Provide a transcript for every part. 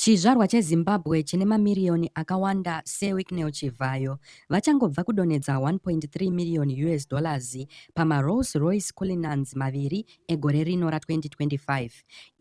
Chizvarwa cheZimbabwe chine mamiriyoni akawanda seWicknell Chivhayo vachangobva kudonhedza 1.3 miriyoni us dollars pamaRolls Royce Cullinans maviri egore rino ra2025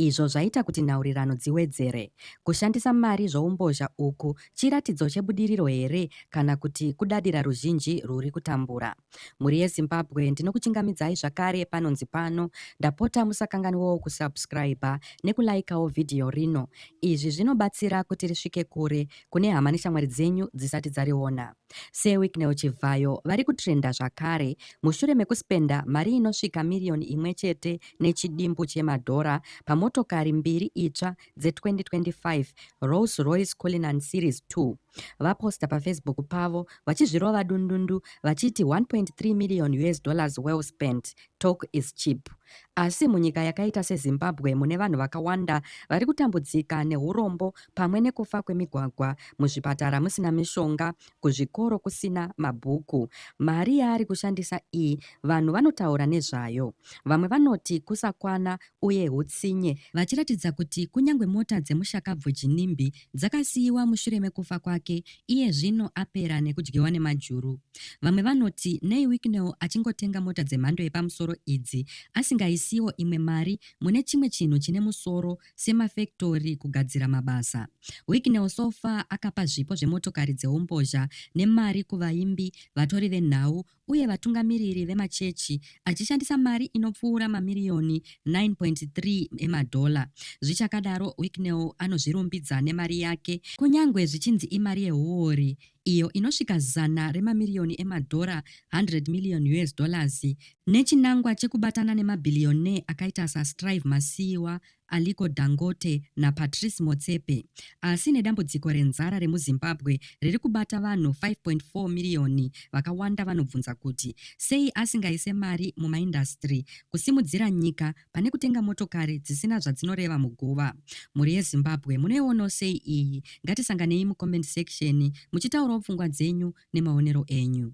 izvo zvaita kuti nhaurirano dziwedzere. Kushandisa mari zvoumbozha uku chiratidzo chebudiriro here kana kuti kudadira ruzhinji rwuri kutambura? Mhuri yeZimbabwe ndinokuchingamidzai zvakare panonzi pano. Ndapota musakanganwawo kusubscriber nekulaikawo vhidhiyo rino. Izvi zvinobatsira kuti risvike kure kune hama neshamwari dzenyu dzisati dzariona. Sir Wicknell Chivhayo vari kutrenda zvakare mushure mekuspenda mari inosvika miriyoni imwe chete nechidimbu chemadhora pamotokari mbiri itsva dze-2025 Rolls Royce Cullinan Series 2. vaposta pafacebook pavo vachizvirova dundundu vachiti 1.3 million us dollars well spent talk is cheap asi munyika yakaita sezimbabwe mune vanhu vakawanda vari kutambudzika neurombo pamwe nekufa kwemigwagwa muzvipatara musina mishonga kuzvikoro kusina mabhuku mari yaari kushandisa iyi vanhu vanotaura nezvayo vamwe vanoti kusakwana uye utsinye vachiratidza kuti kunyange mota dzemushakabvu jinimbi dzakasiyiwa mushure mekufa kwake iye zvino apera nekudyiwa nemajuru. Vamwe vanoti nei Wicknell achingotenga mota dzemhando yepamusoro idzi asingaisiwo imwe mari mune chimwe chinhu chine musoro semafektori kugadzira mabasa. Wicknell so far akapa zvipo zvemotokari dzeumbozha nemari kuvaimbi, vatori venhau uye vatungamiriri vemachechi achishandisa mari inopfuura mamiriyoni 9.3 emadhola. Zvichakadaro, Wicknell anozvirumbidza nemari yake, kunyange zvichinzi imari yehuori, iyo inosvika zana remamiriyoni emadhora, 100 million US dollars, nechinangwa chekubatana nemabhiliyonee akaita saStrive Masiyiwa, Aliko Dangote naPatrice Motsepe. Asi nedambudziko renzara remuZimbabwe riri kubata vanhu 5.4 miriyoni, vakawanda vanobvunza kuti sei asingaise mari mumaindasitiri kusimudzira nyika pane kutenga motokari dzisina zvadzinoreva muguva. Mhuri yeZimbabwe munoionawo sei iyi? Ngatisanganei mucomment section muchitaurawo pfungwa dzenyu nemaonero enyu.